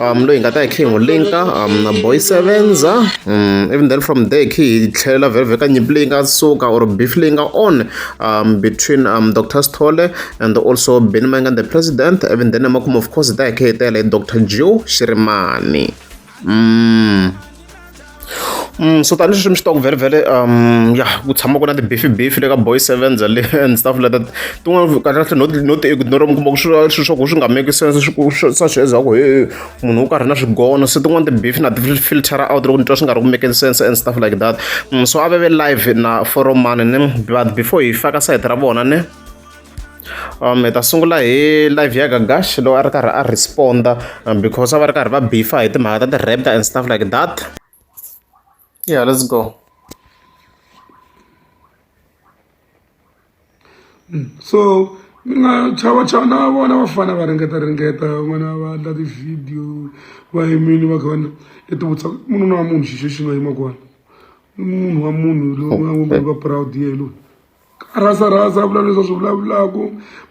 um loyi hi nga ta hi khe hi n'wi linka um na boy sevens um even then from there khe hi tlhelela vhevhe ka nyimpi leyi nga suka or beef leyi nga on um between um dr sithole and also benny mayengani the president even then emakumu of course hi ta hi khe hi tele hi dr joe xirimani um so tanihileswi mi swi tivaka vhele vhele um ya ku tshama ku na ti-beefy beefy le ka boy sevens le and stuff like that tin'wana kahlekahle no no ti-ignore mi kuma ku swilo swa ku swi nga make sense swa swi ezaka ku he munhu wo karhi na swigono se tin'wana ti-beefy na ti-filtera out loko ni twa swi nga ri ku making sense and stuff like that so a veve live na foromani ni but before hi faka sayiti ra vona ni um hi ta sungula hi live ya gagash lowu a ri karhi a responda um, because a va ri karhi va bifa hi timhaka ta ti-raptor and stuff like that yeah let's go mm, so mi nga chava chava na vona vafana va ringeta ringeta van'wana va endla ti-video va yimini va kha va ya tivutisa munhu na munhu xixo xi nga yima kona munhu wa munhu loyi va proud yehe loyi rasa rasa vula leswi swi vulavulaka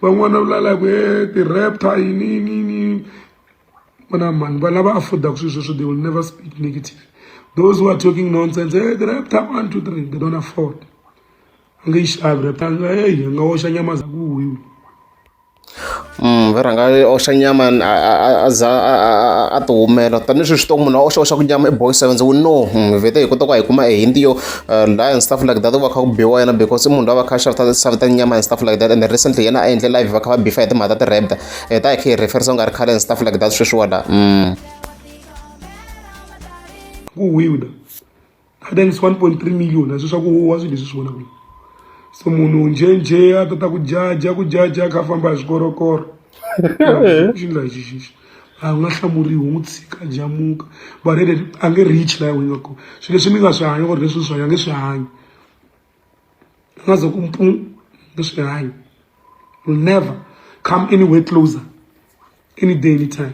van'wana va vulala ku e ti-raptor yini yini yini vona mani va lava affordaka swilo sweswo they will never speak negative those who are talking nonsense e ti-raptor one two three they don't afford a nge yi xavi raptor a nga eyi a nga oxa nyama za ku huyiwa va rhanga va oxa nyama a a a a za a a a a a ti humela tani hi sweswi swi tiva ku munhu a oxa oxa ku nyama i boxa seven we know hi vhete hi kota ku va hi kuma e hint yo laha and stuff like that ku va kha ku biwa yena because i munhu loyi a va kha a xavisa xavisa nyama and stuff like that and recently yena a endle live va kha va bifa hi timhaka ta ti-rapda hi ta hi kha hi referisa ku nga ri khale and stuff like that sweswiwa laha ku wile. I think it's 1.3 million leswi swa ku huwa swilo leswi swi vonaka lowu se munhu njhenjhe a ta ta ku jaja ku jaja a kha a famba hi swikorokoro xi nga xi xi xi a nga hlamuriwi n'wi tshika jamuka but ende a nge reach laha n'wi nga kona swilo leswi mi nga swi hanya or leswi swi hanya nge swi hanya a nga ze ku mpu nge swi hanya will never come anywhere closer any day anytime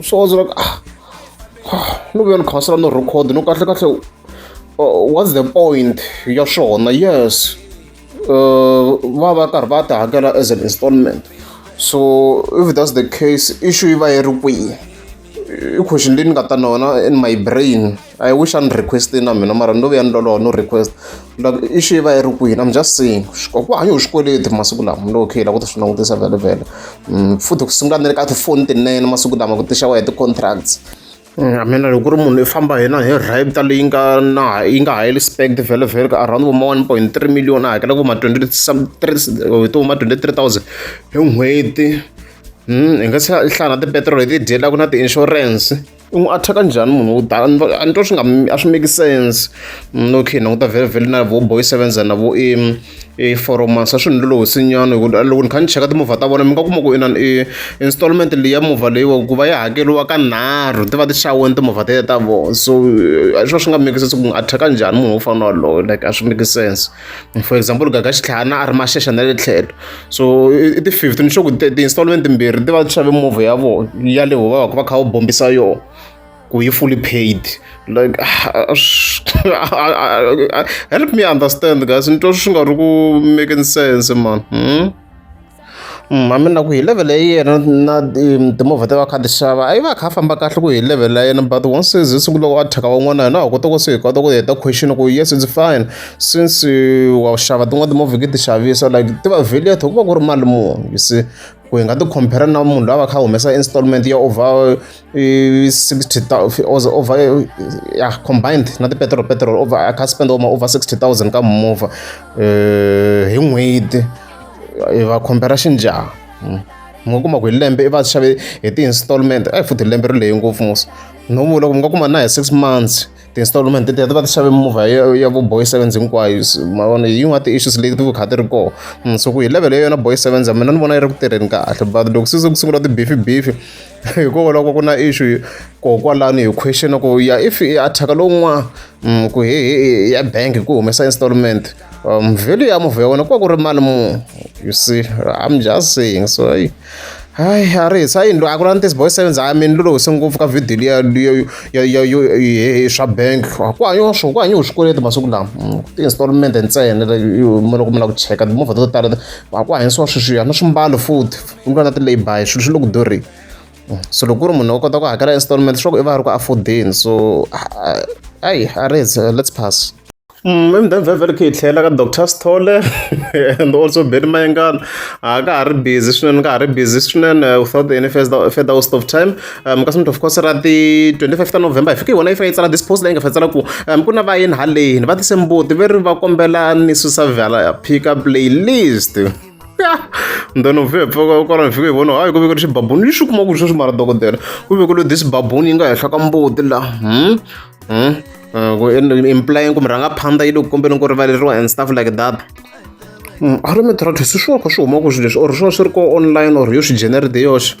swo zwa ku ah, ah, no ve ni khasela no record no kahle kahle uh, what's the point ya swona yes uh, va va karhi va ti hakela as an installment so if that's the case issue yi va yi ri kwihi i question leyi ni nga ta nona in my brain I wish a ni request-ini na mina mara ni lo vuya ni loloha no request like i xi va yi ri kwini i'm just saying ku hanya hi xikweleti masiku lama ni lo okay la ku ta swi langutisa velevele mm, futhi ku sungula ni le ka tifoni tinene masiku lama ku tixa wa hi ti-contracts mm, mina loko ku ri munhu i famba hina hi rapta leyi nga na yi nga high respect velevele ka around vo ma one point three million a hakela vo ma twenty three hi to ma twenty three thousand hi n'hweti mm, hi nga se hlaya na tipetrol hi ti dyelaka na ti-insurance u n'wi attack-a njhani munhu wo tala a ni twa swi nga a swi make sense mm, okay ni languta vhele vhele na vo boy sevens na vo i mm, i foromans a swi ni lolohi sinyana hi loko ni kha ni cheka timovha ta vona mi nga kuma ku inani i installment leyi ya movha leyiwa ku va yi hakeriwa ka nharhu ti va ti xaweni timovha tete ta vona so eh, a swi va swi nga make sense ku n'wi attack-a njhani munhu wo fana waloyo like a swi make sense for example gaga xitlhana a ri maxexa na le tlhelo so i ti-fifty ni sure ku ti-installment timbirhi ti va ti xave movha ya vona ya le va va kha va bombisa yona ku yi fully paid like help me understand guys ni twa swi nga ri ku making sense man hmm? a mi na ku hi level ya yena na timovha ta va kha ti xava a yi va a kha a famba kahle ku hi level la yena but once se ze sungula wa thyaka van'wana hina ha kota ku se hi kota ku heta question ku yes it's fine since wa xava tin'wana timovha ke ti xavisa like ti va value ku va ku ri mali muni you see ku hi nga ti compare na munhu loyi a va kha a humesa installment ya over sixty over ya combined na tipetiroli petiroli over a kha a spend over sixty thousand ka mimovha hi n'hweti. hi va khombela xinjhani hmm. mi nga kuma ku hi lembe i va xave hi ti-installment a hi futhi lembe ri leyi ngopfu musa no vula ku mi nga kuma na hi six months ti-installment ti va ti xave mimovha ya ya vo boy sevens hinkwayo ma vona hi yin'wana ti-issues leti ti kha ti ri kona hmm, so ku hi level ya yona boy sevens a mina ni vona yi ri ku tirheni kahle but loko se ku sungula ti-beefy beefy hikokwalaho ka ku na issue kokwalani hi question ku ya if i attack lowun'wana Mm, ku hi hi ya bank ku humesa installment um value ya movha ya wena ku va ku ri mali mu you see i'm just saying so hayi hayi a ri hisa yindlu a ku lani tisi boy sevens hayi mina lolo hise ngopfu ka video liya liya- ya- ya- yo- hi- hi swa bank ku hanyiwa swo ku hanyiwa swikweleti masiku lama Mm, ti-installment ntsena le- yo- mo loko mi lava ku cheka timovha to tala a ku hanyisiwa sweswiya na swimbalo futhi ku nga na ti-laby swilo swi le ku durheni so loko ku ri munhu u kota ku hakela installment swa ku i va a ri ku affordeni so ayi a res let's pass mm, i mudeni vhevhele khe hi tlhela ka doctor stole and also beni mayengana a ka ha ri busy swinene ka ha ri busy swinene uh, without any further waste of time um kasi mntu of course ra ti 25 ta november hi fike hi wona yi fika yi tsala this post leyi nga fa tsala ku um ku na vayeni haleni va tise mbuti ve ri va kombela ni susa vhala pick up playlist then u vhe pfuka u kala ni fike hi vona hayi ku vekele xibabuni lexi u kuma ku sweswi mara dokodela ku vekele this babuni yi nga henhla ka mbuti la hmm? Hmm? Eh, ku implying kumbe rhanga phanda yi le ku kombeni ku rivaleriwa and stuff like that hmm, a ri mi try to se swi wa kha swi huma ku swilo leswi or swi va swi ri ko online or yo swi genere de yoxe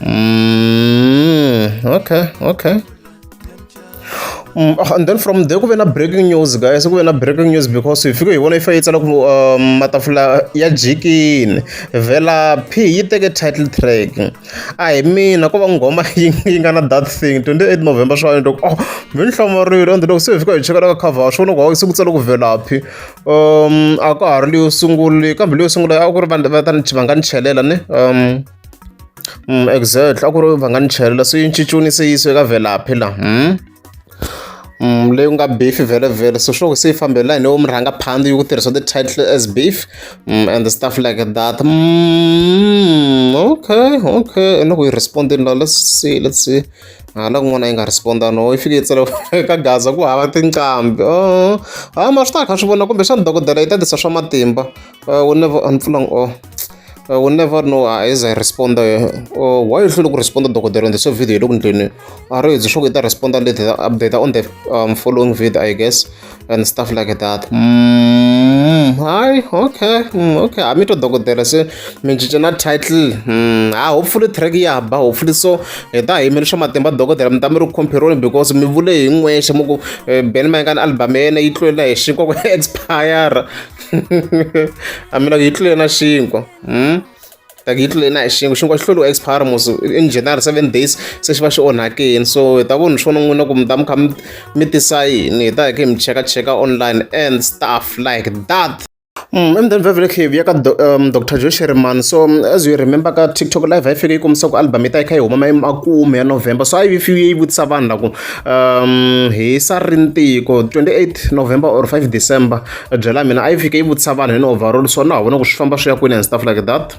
Mm, okay, okay. Mm, ah, and then from there kuve na breaking news guys kuve na breaking news because hi fike hi vona yi fa yi tsala ku um, matafula ya jikini vhela p yi teke title track a hi mina ko va nghoma yi nga na that thing 28 november swa ni loko oh mi ni hlamarile and loko se hi fika hi cheka la ka cover swi vona ku se ku tsala ku vhela p um a ka ha ri leyo sungule kambe leyo sungula a ku ri vanhu va ta ni va nga ni chelela ni um exactly a ku ri va nga ni chelela se yi cincuni se yisiwe ka velaphi la leyi ku nga beef vele vele so sure se yi fambela hi lewo mi rhanga phandi yi ku tirhisa the title as beef and the stuff like that mm, okay okay ene ku yi respondini la let's see let's see hala kun'wana yi nga responda no yi fike yi tsala ka gaza ku hava tinqambi oh ha ma swi ta kha swi vona kumbexana dokodela yi ta tisa swa matimba uh, we never unplugging or uh, we never know uh, as a responder uh, why you should respond to Dr. on the same video don't you are you should get responder later update on the um, following video I guess and stuff like that mm, hi okay mm, okay I'm to Dr. say me jana title mm, ah hopefully track ya ba hopefully so eta hi mele swa matimba Dr. mtamiro compare because mi vule hi n'we xamuku eh, Ben Mangan album yena yi tlwela hi xikwa ku expire a mina yi tlule na xinkwa hmm? like yi tlule na hi xinkwa xinkwa xi hluriwa expire mos in general seven days se xi va xi onhakini so hi ta vona swona n'wina ku mi ta mi kha mi tisa yini hi ta hi khe mi cheka cheka online and stuff like that Mm, and then vavele khe ya ka um, dr joe sherman so um, as you remember ka tiktok live a yi fike yi kombisa ku album yi ta yi kha yi huma mayi makume ya november so a yi fiwe yi vutisa vanhu la ku um hi sa ri ntiko 28 november or 5 december a byela mina a yi fike yi vutisa vanhu hi ni overall so na ha vona ku swi famba swi ya kwini and stuff like that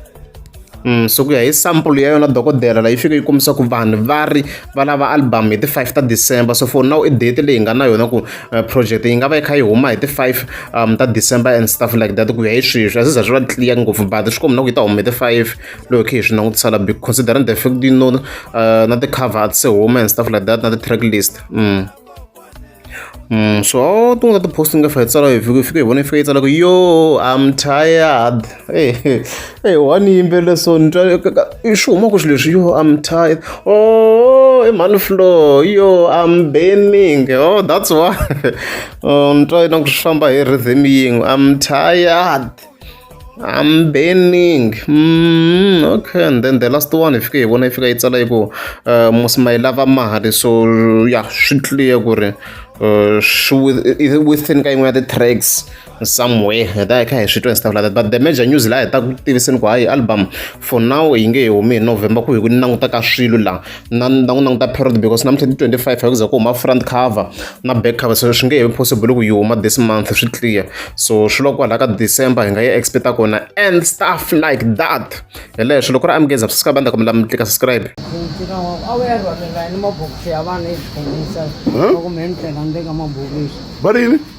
Mm, so ku ya hi sample ya yona dokodela la yi fike yi kombisa ku vanhu va ri va lava album hi ti-five ta december so for now i date leyi nga na yona ku uh, project yi nga va yi kha yi huma hi ti-five um, ta december and stuff like that ku ya hi sweswi a swi za swi va clear ngopfu but swi kombi na ku yi ta huma hi ti-five loko khe hi swi langutisa la big considering the fact you know uh, na ti-cover se huma and stuff like that na ti-track list mm. Mm, so aho tungula tiposti nga fika tsala hi vhiki fika hi vona fika yi tsala ku yo i'm tired hey, hey, hey one yimbelela so ni twa swi huma ku swi leswi yo i'm tired oh i mhani floor yo i'm burning oh that's why oh, ni twa ingaku swi famba hi rhythm yin'we i'm tired I'm burning okay and then the last one hi fike hi vona yi fika yi tsala yi ku must ma yi lava mali so ya swi clear ku ri swi within ka yin'we ya ti-tracks somewhere hi ta hi kha hi swi twa and stuff like that but the major news laha hi ta ku tiviseni ku hayi album for now yi nge he humi hi november ku hi ku ni languta ka swilo laha na ni ta n'wi languta period because namuntlha ti twenty five hakuza ku huma front cover na back cover so swi nge he possible ku yi huma this month swi clear so swi loko kwalaho ka december hi nga yi expecta kona and stuff like that hi leswo loko ri amukeza subscribe a ni ta kombela mi tlika subscribe va ri yini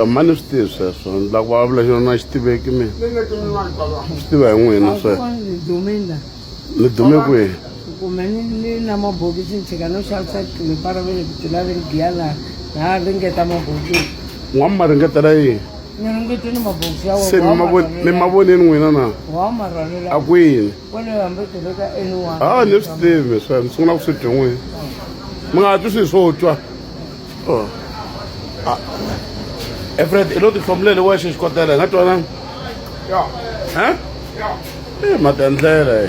e mani swi tivi sweswo ni lava vulavula xona a xi tiveki mina swi tiva hi n'wina sweswo ni dume kwihi kumbe ni ni na mabokisi ni tshika no xavisa tilepa ra vele ku tlula ri giya laha laha ringeta mabokisi n'wa mi ma ringetela yini ni ringete ni mabokisi ya se mi ma von- mi ma vonini n'wina na wa marhwalela a kwini a ni swi tivi swe ni sungula ku swi twi n'wini mi nga twi swilo swo twa oh. ah. efred i lo tihlomuleli wexe xikotela hi nga twananga um e matendlela